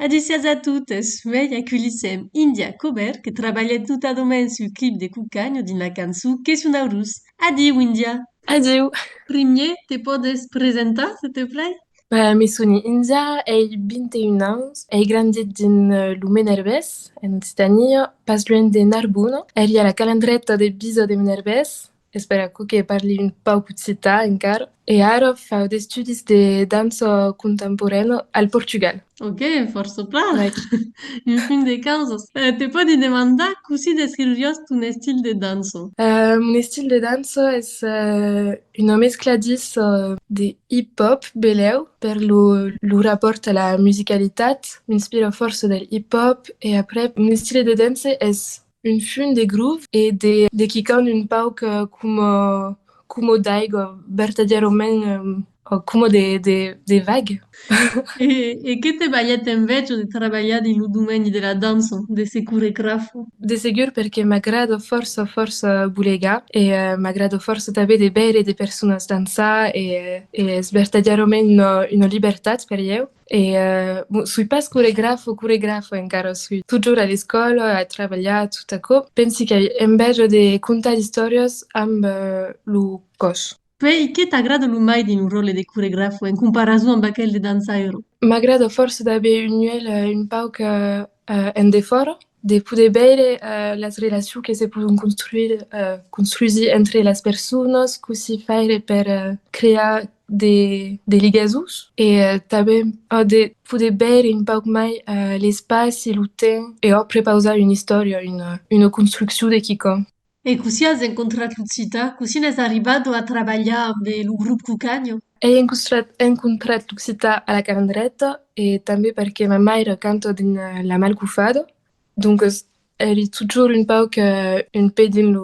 Adécias a totes! Uèi aculhissèm India Cobert que trabalhèt notadament sul clip de Cucanho dins la cançon Que son aurós. Adiu India! Adiu! Primier, te pòdes presentar se te plai? Me soni India, ei 21 ans, ei grandit dins lo Menerbés, en Occitània, pas luènh de Narbona. Èri a la Calandreta de Biza de Menerbés, Espèra aquò que parli un pauc occitan encara. E ara fau d'estudis de dança contemporaina al Portugal. Ok, fòrça plan! En fin de causas, te pòdi demandar cossí descriuriás ton estil de dança? Mon estil de dança es una mescla dins de hip-hop, belèu, per lo rapòrt a la musicalitat, m'inspira fòrça del hip-hop e après mon estil de dança es Un fum de gruf e de quican un pauc coma d'aigua, vertadièrament coma de vag. E que te balhèt enveja de trabalhar dins lo domeni de la dança, de se coregrafar? De segur perque m'agrada fòrça fòrça bolegar e m'agrada fòrça tanben de veire de personas dançar e es vertadièrament una libertat per ieu. E bon, soi pas coregraf o coregrafa encara, soi totjorn a l'escòla, a trabalhar, tot aquò. Pensi qu'ai enveja de contar d'istòrias amb lo còs. Puèi, qué t'agrada lo mai dins lo ròtle de coregraf en comparason amb aquel de dançaire? M'agrada fòrça d'aver un uèlh un pauc en defòra, de poder veire las relacions que se pòdon construire, construsir entre las personas, cossí faire per crear de ligasons e tanben de poder veire un pauc mai l'espaci, lo temps e òc prepausar una istòria, una construccion de quicòm. E cossí as encontrat lo Cita? Cossí n'es arribado a trabalhar amb lo Grup Cucanho? Ei encontrat lo Cita a la Carendreta e tanben perque ma maire canta dins la Malcufada, doncas ei totjorn un pauc un pè dins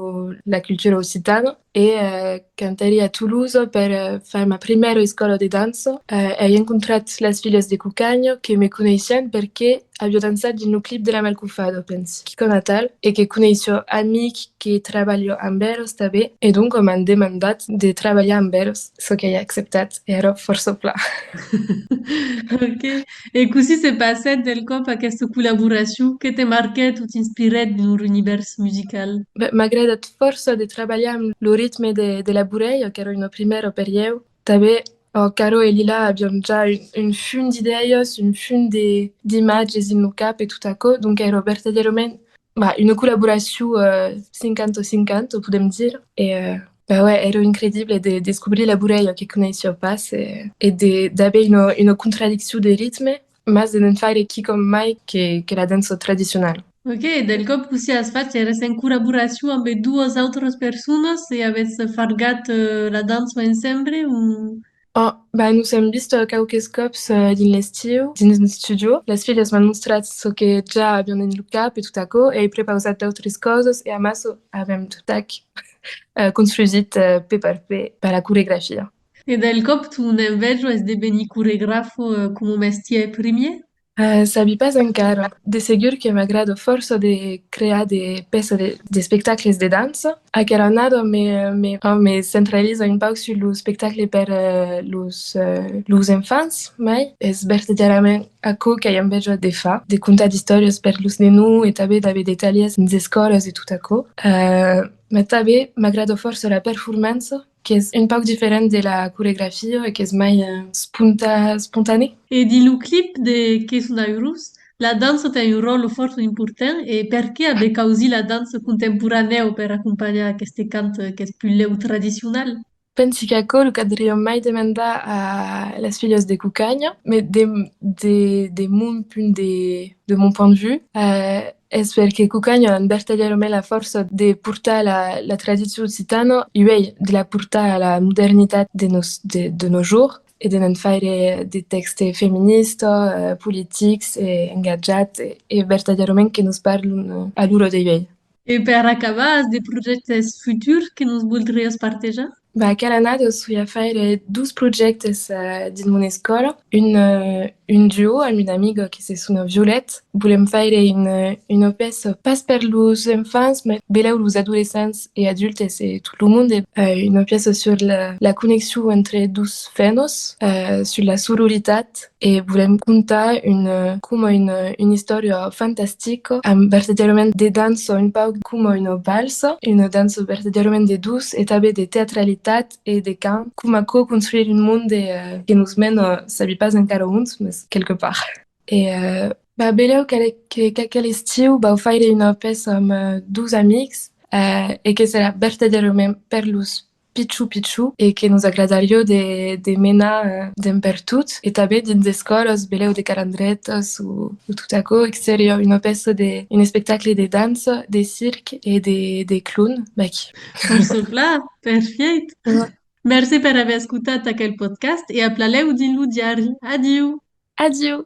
la cultura occitana e Cantèri a Toulouse per far ma primièra escòla de dança. Ai encontrat las filhas de Cucanha que me coneissián perque aviá dançat dins lo clip de la Malcufada, pensi, quicòm atal, e que coneissió amic que trabalhó amb eros tabé e donc m'an demandat de trabalhar amb eros, çò qu'ai acceptat e ara fòrça plan. Ok. E cossí se passèt del còp aquesta collaboracion? Que te marquèt o t'inspirèt dins lor univèrs musical? Bèh, m'agradat fòrça de trabalhar amb lo ritme de la burèia, qu'èra una primièra per ieu. Tanben, amb Caro e Lila aviam ja un fum d'idèias, un fum d'imatges dins lo cap e tot aquò, donc èra vertadièrament Bah, une collaboracion 50-50, podem dire, e bah ouais, èra incredible de descobrir la Burèia que coneissia pas e d'aver una contradiccion de ritme, mas de ne'n faire quicòm mai que la dança tradicionala. Ok, del còp cossí as fach? Èretz en collaboracion ambe doas autras personas e avètz fargat la dança ensemble o? Oh, ben, nos èm vist quauques còps dins l'estiu, dins un studio. Las filhas m'an mostrat çò que ja avián dins lo cap e tot aquò, e ai prepausat d'autres causas e amassa avèm totac construsit pè per pè per la coregrafia. E del còp, tu n'en vèj esdevenir coregrafo coma mestièr primièr? Sabi pas encara. De segur que m'agrada fòrça de crear de pèças, d'espectacles de dança. Aquera annada me centraliza un pauc sus lo espectacle per los enfants, mai es vertadièrament aquò qu'ai enveja de far, de contar d'istòrias per los nenons e tanben d'aver de talhèrs dins d'escòlas e tot aquò. Mas tanben m'agrada fòrça la performança Qu'es un pauc diferent de la coregrafia e qu'es mai espontanè. E dins lo clip de Que son d'airós, la dança ten un ròtle fòrt important e perqué a de causir la dança contemporanèu per acompanhar aqueste cant qu'es pus lèu tradicional? Pensi qu'aquò lo cadriom mai demandar a las filhas de Cucanha, mai de mon punt de vue, Es per que Cucanho an vertadièrament la fòrça de portar la tradicion occitana uèi, de la portar a la modernitat de nos jours e de ne'n faire de tèxtes feministas, politics e engatjats e vertadièrament que nos parlan a loro de uèi. E per acabar, as de projèctes futurs que nos voldriás partejar? Bah, cada annada soi a faire dos projèctes dins mon escòla. Un, un duo amb una amiga que se sona Violette. Volèm faire una, una pèça pas per los enfants, mai benlèu los adolescents e adultes e tot lo monde. Una pèça sur la, la conneccion entre dos fènos, sur la sororitat. E volèm contar una, coma una, una istòria fantastica, amb vertadièrament de dança, un pauc coma una valsa, una dança vertadièrament de dutz e tanben de teatralitat e de cant, coma aquò construire un monde que nos mena, sabi pas encara ont, mas quelque part. E va, benlèu qu'aquel estiu vau faire una pèça amb dutz amics e que serà vertadièrament per los pichou pichou e que nos agradarió de menar d'en pertot e tanben dins d'escòlas belèu de calandretas o tot aquò que seriá una pèça de un espectacle de dança de circ e de clown mèg per çò plan perfièit merci per aver escotat aquel podcast e aplalèu dins lo diari adiu! Adiu!